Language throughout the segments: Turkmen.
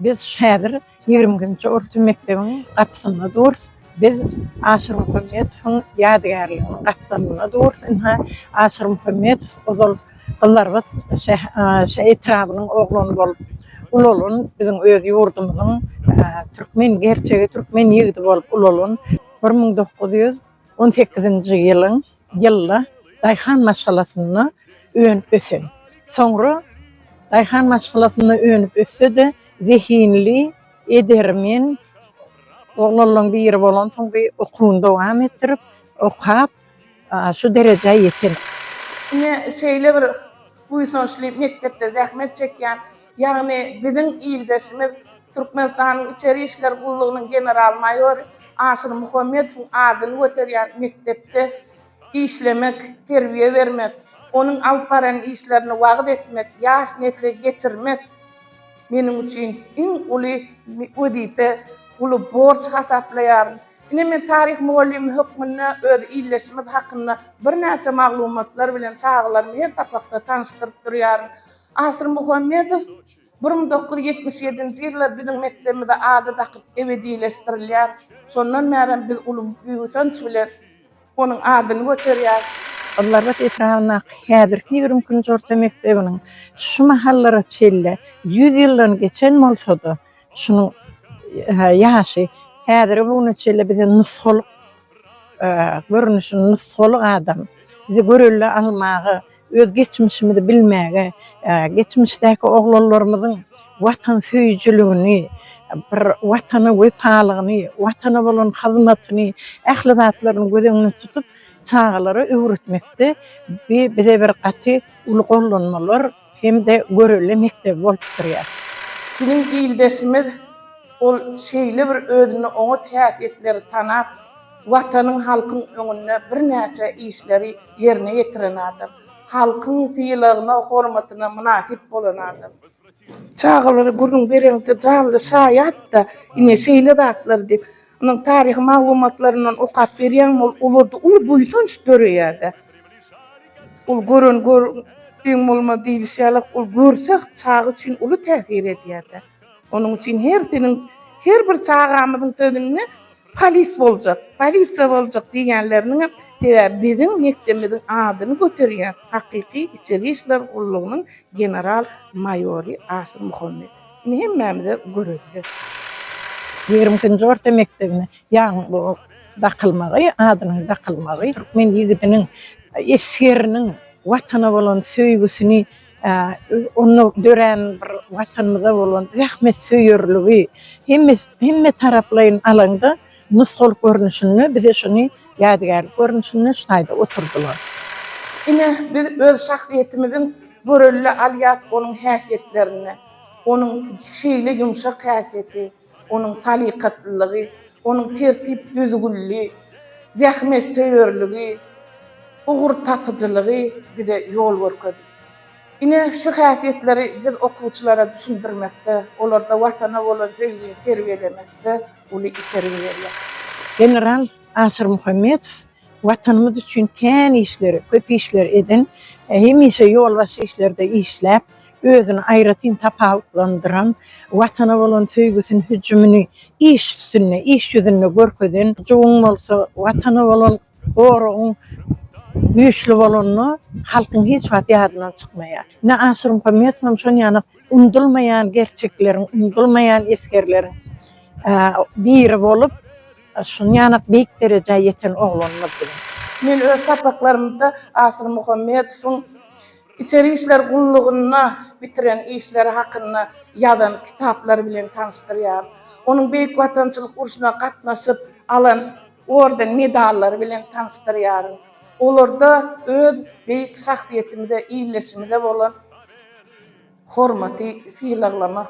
Biz häzir 20-nji orta mekdebiň gapysynda durus. Biz Aşyr Muhammetowyň ýadygärliginiň gapdalynda durus. Ynha, Aşyr Muhammetow ozal Gyzlarbat şä etrabynyň oglany bolup ulalan, biziň öz ýurdumyzyň türkmen gerçegi türkmen ýigidi bolup ulalan bir müň dokuz ýüz on sekizinji ýylyň ýylda daýhan maşgalasynda önüp ösen. Soňra daýhan maşgalasynda önüp össe-de zehinli, edermen oglanlaň biri bolansoň bir okuwyny dowam etdirip, okap, şu derejä ýeten. Ine, şeýle bir buýsançly mekdepde zähmet çekýän, ýagny biziň ildeşimiz, Türkmenistanyň Içeri işler gullugynyň general-maýory Aşyr Muhammedowyň adyny göterýän mekdepde işlemek, terbiýe bermek, onuň alyp baran işlerini wagyz etmek, ýaş nesle geçirmek meniň üçin iň uly wezipe, uly borç hasaplaýaryn. Ine men taryh mugallymy hökmünde öz illeşimiz hakynda birnäçe maglumatlar bilen çagalarymy her sapakda tanyşdyryp durýaryn. Aşyr Muhammedow bir müň dokuz ýüz ýetmiş ýedinji ýylda biziň mekdebimize ady dakyp ebedileşdirilýär. Şondan bärem biz uly buýsanç bilen. Onuň adyny göterýär. Gyzlarbat etrabyndaky häzirki ýigrimi ikinji orta mekdebiniň şu mahallara çenli ýüz ýyldan geçen bolsa-da, şunuň ýaşy häzirki bu güne çenli bize nusgalyk görnüşini, nusgalyk adam, bizi görelde almaga, Öz geçmişimizi bilmäge, geçmişdäki oglanlarymyzyň watansöýüjiligini, bir Watana wepalygyny, Watana bolan hyzmatyny, ähli zatlaryny göz öňünde tutup, çagalara öwretmekde bi bize bir gaty uly gollanmalar hem-de görelde mekdebi bolup durýar. Biziň ildeşimiz ol şeýle bir özünde oňat häsiýetleri tanap, Watanyň halkyň öňünde birnäçe işleri ýerine ýetiren adam. Halkyň sylagyna, hormatyna mynasyp bolan adam. Çagalara gürrüň bereňde janly şaýat-da ine şeýle zatlar diýip. Onuň taryhy maglumatlaryndan okap berýäňmi ol olarda uly buýsanç döreýär-de. Ol gören gör deň bolmaz diýlişi ýaly ol görse çaga üçin uly täsir edýär-de. Onuň üçin her seniň her bir çagamyzyň sözünde polis boljak, polisiýa boljak diýýänleriniňem sebäbi biziň mekdebimiziň adyny göterýän hakyky içeri işler gullugynyň general maýory Aşyr Muhammet. Indi hemmämize görelde. Ýigrimi ikinji orta mekdebine ýaňy bu dakylmagy, adynyň dakylmagy türkmen ýigidiniň, esgeriniň Watana bolan söýgüsini onda dörän bir Watanymyza bolan zähmetsöýerligi, hemme hemme taraplaýyn alanda nusgalyk görnüşinde bize şuny ýadygärlik görnüşinde şaýda oturdylar. Ine, biz öz şahsyýetimiziň görelde alýas onuň häsiýetlerini, onuň şeýle ýumşak häsiýeti, Onuň salykatlylygy, onuň tertip-düzgünli, zähmetsöýerligi, ugurtapyjylygy bize ýol görkezdi. Ine, şu häsiýetleri biz okuwçylara düşündirmekde, olarda Watana bolan söýgini terbiýelemekde uly itergi berýär. General Aşyr Muhammedow Watanymyz üçin kän işleri, köp işleri eden, hemişe ýolbaşçy işlerde işläp, özüni aýratyn tapawutlandyran, Watana bolan söýgüsini, hüjümini iş üstünde, iş ýüzünde görkezen, juwuň bolsa Watana bolan goragyň güýçli bolanda halkyň hiç wagt ýadyndan çykmaýar. Ine, Aşyr Muhammedowam şon ýaly unudylmaýan gerçekleriň, unudylmaýan esgerleriň biri bolup, şun ýanak beýik derejä ýeten oglanymyz bilen. Men öz sapaklarymda Aşyr Muhammedowyň Içeri işler gullugynda bitiren işleri hakynda ýazan kitaplary bilen tanyşdyrýar. Onuň Beýik Watançylyk urşuna gatnaşyp alan orden-medallary bilen tanyşdyrýar. Olarda öz beýik şahsyýetimize, ildeşimize bolan. Hormaty sylaglamak,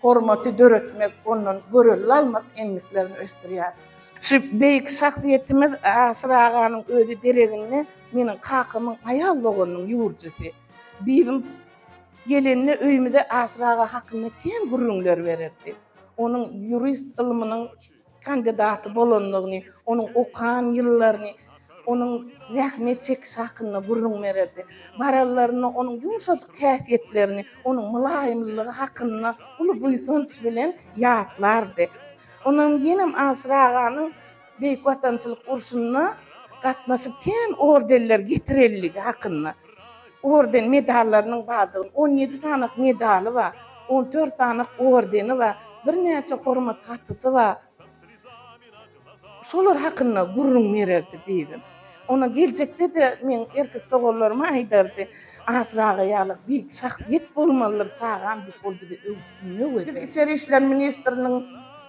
hormaty döretmek, ondan görelde almak endiklerini ösdürýär. Şu beýik şahsyýetimiz Aşyr aganyň özi dereginde meniň kakamyň aýal doganynyň ýurjusy. Bibim gelende öýümize Aşyr aga hakynda kän gürrüňler bererdi. Onuň ýurist ylmynyň kandidaty bolandygyny, onuň okan ýyllaryny, onuň zähmet çekişi hakynda gürrüň bererdi. Bararlarynda onuň ýumşajyk häsiýetlerini, onuň mylaýymlygy hakynda uly buýsanç bilen ýatlardy. Onam ýenem Aşyr aganyň Beýik Watançylyk urşunda gatnaşyp kän ordenler getirendigi hakynda. Orden, medallarynyň bardygyny, on ýedi sanyk medaly bar, on dört sanyk ordeni bar, birnäçe hormat hatysy bar. Şolar hakynda gürrüň bererdi bibim. Ondan geljekde-de men erkek doganlaryma aýdardy, Asyr aga ýaly beýik şahsyýet bolmalydyr çagam diýip, ol bizi öwüt-ündew ederdi. Biz Içeri işler ministriniň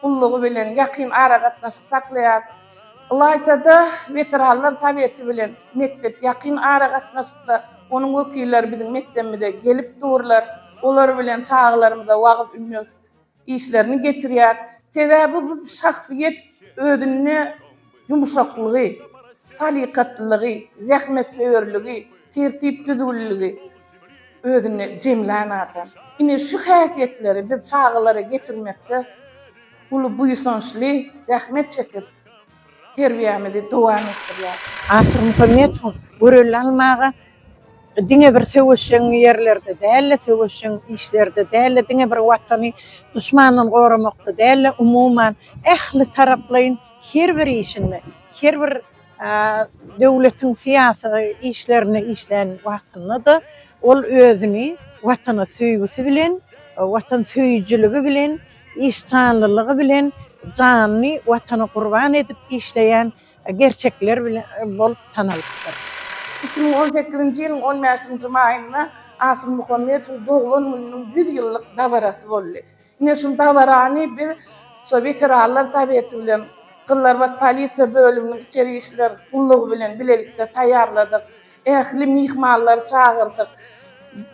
gullugy bilen ýakyn aragatnaşyk saklaýarys. Ylaýta-da, Weteranlar soweti bilen mekdep ýakyn aragatnaşykda. Onuň wekilleri biziň mekdebimize gelip durlar. Olar bilen çagalarymyza wagyz-ündew işlerini geçirýär. Sebäbi bu şahsyýet özünde ýumşaklygy, salykatlylygy, zähmetsöýerligi, tertip-düzgünliligi özünde jemlän adam. Ine, şu häsiýetleri biz çagalara geçirmekde. uly buýsançly zähmet çekip, terbiýämizi dowam etdirýär. Asyr Muhammedowyň görelde almaga diňe bir söweşjeň ýerlerde däl-de, söweşjeň işlerde däl-de, diňe bir Watany duşmandan goramakda däl-de, umuman, ähli taraplaýyn her bir işinde, her bir döwletiň syýasy işlerinde işlän wagtynda-da ol özüni Watana söýgüsi bilen, watansöýüjiligi bilen, işjanlylygy bilen janyny Watana gurban edip işleýän gerçekler bolup tanalypdyr. Iki müň on sekizinji ýylyň on bäşinji maýynda Asym Muhammedowyň doglan gününiň ýüz ýyllyk dabarasy boldy. Ine, şu dabarany biz şo Weteranlar soweti bilen Gyzylarbat polisiýa bölüminiň içeri işler gullugy bilen bilelikde taýýarladyk. Ähli myhmanlary çagyrdyk.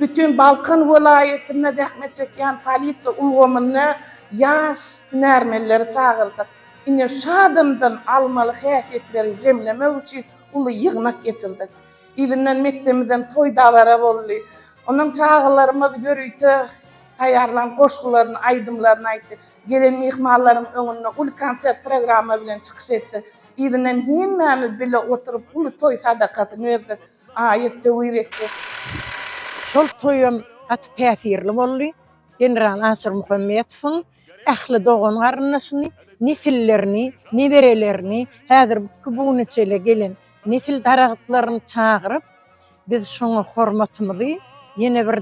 Bütin Balkan welaýatynda zähmet çekýän polisiýa ulgamyna ýaş hünärmenleri çagyrdyk. Ine, şu adamdan almaly häsiýetleri jemlemek üçin uly ýygnak geçirdik. Yzyndan mekdebimizden toý-dabara boldy. Ondan çagalarymyz ýörite taýýarlan goşgularyny, aýdymlaryny aýtdy. Gelen myhmanlaryň öňünde uly konsert programma bilen çykyş etdik. Yzyndan hemmämiz bile oturyp uly toý sadakasyny berdik. Aýat töwir etdik. Şol toýam gaty täsirli boldy. General Aşyr Muhammetowyň ähli dogan-garyndaşyny, nesillerini, neberelerini, häzirki bugüne çenli gelen nesil daragtlaryny çagyryp, Biz şoňa hormatymyzy ýene bir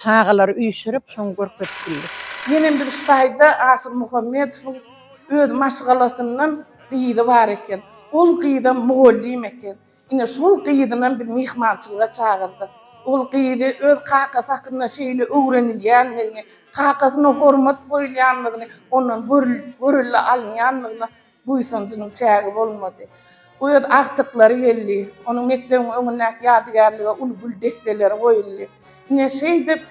çagalary üýşürip şoňa görkezip bildik. Ýenem bir şu taýda Aşyr Muhammedowyň öz maşgalasyndan gyzy bar eken. Ol gyzam mugallym eken. Ine şol gyzynam biz myhmançylyga çagyrdyk. Ol gyzy öz kakasy hakynda şeýle öwrenilýändigini, kakasyna hormat goýulýandygyny, ondan görelde alynýandygyny Buýsanjynyň çägi bolmady. Bu öz agtyklary geldi. Onuň mekdebiň öňündäki ýadygärlige uly gül desseleri goýuldy. Ine, şeýdip,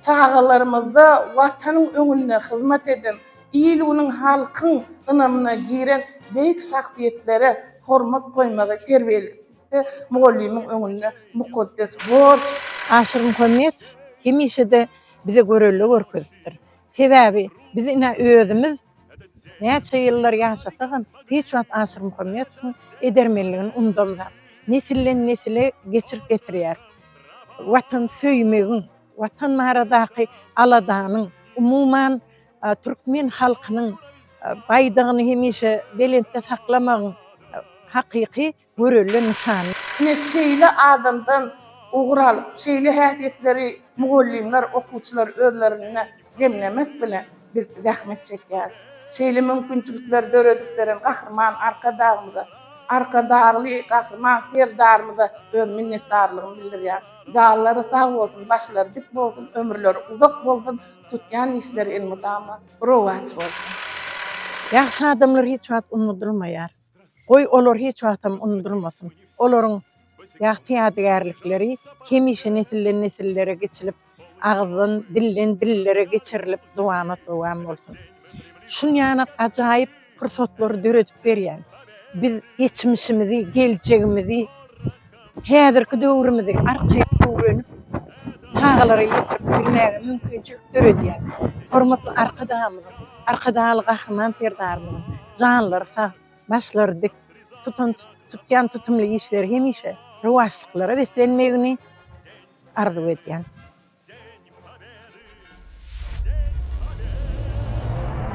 çagalarymyzda Watanyň öňünde hyzmat eden, il-günüň, halkyň ynamyna giren beýik şahsyýetlere hormat goýmagy terbiýelikde mugallymyň öňünde mukaddes borç. Aşyr Muhammetow hemişe-de bize görelde görkezipdir. Sebäbi biz ine özümiz Näçe ýyllar ýaşasagam, hiç wagt Aşyr Muhammedowyň edermenligini unudamzok. Nesilden-nesile geçirip getirýär. Watan söýmegiň, Watan baradaky aladanyň, umuman, türkmen halkynyň Baýdagyny hemişe belentde saklamagyň hakyky görelde nyşanly. Ine, şeýle adamdan ugur alyp, şeýle häsiýetleri mugallymlar, okuwçylar özlerinde jemlemek bilen, biz zähmet çekýäris. Şeýle mümkinçilikleri döredip beren Gahryman Arkadagymyza, Arkadagly Gahryman Serdarymyza öz minnetdarlygymy bildirýän. Janlary sag bolsun, başlary dik bolsun, ömürleri uzak bolsun, tutýan işleri elmydama rowaç bolsun! Ýagşy adamlar hiç wagt unudylmaýar. Goý, olar hiç wagtam unudylmasyn. Olaryň ýagty ýadygärlikleri hemişe nesilden-nesillere geçilip, agyzdan, dilden, dillere geçirilip dowamat-dowam bolsun. Şunýana ajaýyp pursatlary döredip berýän, biz geçmişimizi, geljegimizi, häzirki döwrümizi arkaýyn öwrenip, çagalara ýetirip bilmäge mümkinçilik döredýän hormatly Arkadagymyzyň, Arkadagly Gahryman Serdarymyzyň janlary sag, başlary dik, tutan tutýan tutumly işleri hemişe rowaçlyklara beslenmegini arzuw edýän.